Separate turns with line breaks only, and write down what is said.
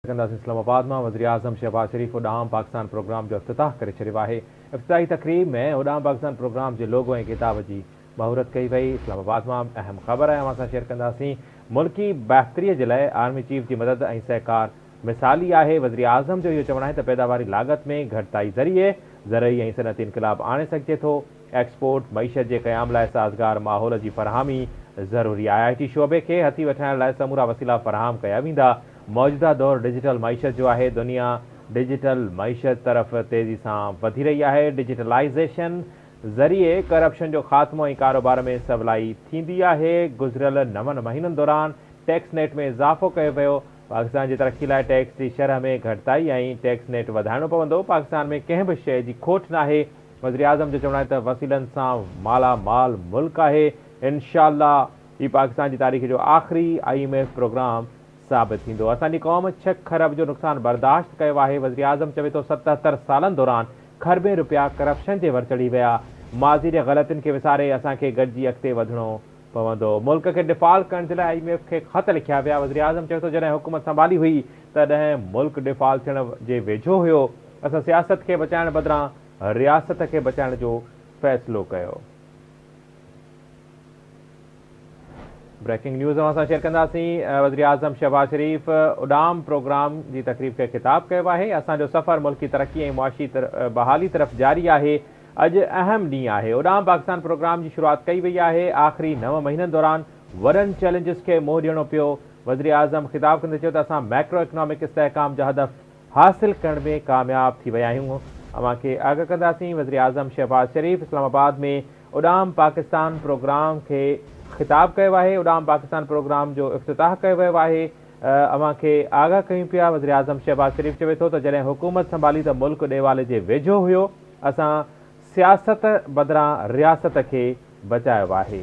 ڪنداسين اسلام آباد مان وزيراعظم شهباز شريف اڏام پاڪستان پروگرام جو افتتاح ڪري ڇڏيو آهي افتتاحي تقريب ۾ اڏام پاڪستان پروگرام جي لوگو ۽ خطاب جي مهورت ڪئي وئي اسلام آباد مان اهم خبر اوهان سان شيئر ڪنداسين ملڪي بهتري جي لاء آرمي چيف جي مدد ۽ سهڪار مثالي آهي وزيراعظم جو اهو چوڻ آهي ته پيداواري لاڳت ۾ گهٽتائي ذريعي زرعي ۽ صنعتي انقلاب آڻي سگهجي ٿو ايڪسپورٽ معيشت جي قيام لاء سازگار ماحول جي فراهمي ضروري آهي آئي ٽي شعبي کي هٿي وٺرائڻ لاء سمورا وسيلا فراهم ڪيا ويندا موجوده دور ڊجيٽل معيشت جو آهي، دنيا ڊجيٽل معيشت طرف تيزي سان وڌي رهي آهي، ڊجيٽلائيزيشن ذريعي ڪرپشن جو خاتمو ۽ ڪاروبار ۾ سولائي ٿيندي آهي، گذريل نون مهينن دوران ٽيڪس نيٽ ۾ اضافو ڪيو ويو، پاڪستان جي ترقي لاء ٽيڪس جي شرح ۾ گهٽتائي ۽ ٽيڪس نيٽ وڌائڻو پوندو، پاڪستان ۾ ڪنهن به شيء جي کوٽ ناهي، وزيراعظم جو چوڻ آهي ته وسيلن سان مالا مال ملڪ آهي، انشاءالله هي پاڪستان جي تاريخ جو آخري آء ايم ايف پروگرام ثابت ٿيندو، اسان جي قوم ڇهه کرب جو نقصان برداشت ڪيو آهي، وزيراعظم چوي ٿو ستهتر سالن دوران کربين روپيا ڪرپشن جي ور چڙهي ويا، ماضي جي غلطين کي وساري اسان کي گڏجي اڳتي وڌڻو پوندو، ملڪ کي ڊيفالٽ ڪرڻ جي لاء آء ايم ايف کي خط لکيا ويا، وزيراعظم چوي ٿو جڏهن حڪومت سنڀالي هئي تڏهن ملڪ ڊيفالٽ ٿيڻ جي ويجهو هيو، اسان سياست کي بچائڻ بدران رياست کي بچائڻ جو فيصلو ڪيو. بريڪنگ نيوز اوهان سان شيئر ڪنداسين وزيراعظم شهباز شريف اڏام پروگرام جي تقريب کي خطاب ڪيو آهي اسان جو سفر ملڪي ترقي ۽ معاشي بحالي طرف جاري آهي اڄ اهم ڏينهن آهي اڏام پاڪستان پروگرام جي شروعات ڪئي وئي آهي آخري نو مهينن دوران وڏن چئلينجز کي منهن ڏيڻو پيو وزيراعظم خطاب ڪندي چيو ته اسان مائڪرو اڪنامڪ استحڪام جا هدف حاصل ڪرڻ ۾ ڪامياب ٿي ويا آهيون اوهان کي آگاهه ڪنداسين وزيراعظم شهباز شريف اسلام آباد ۾ اڏام پاڪستان پروگرام کي خطاب ڪيو آهي اڏام پاڪستان پروگرام جو افتتاح ڪيو ويو آهي اوهان کي آگاهه ڪيون پيا وزيراعظم شهباز شريف چوي ٿو ته جڏهن حڪومت سنڀالي ته ملڪ ڏيوالي جي ويجهو هيو اسان سياست بدران رياست کي بچايو آهي.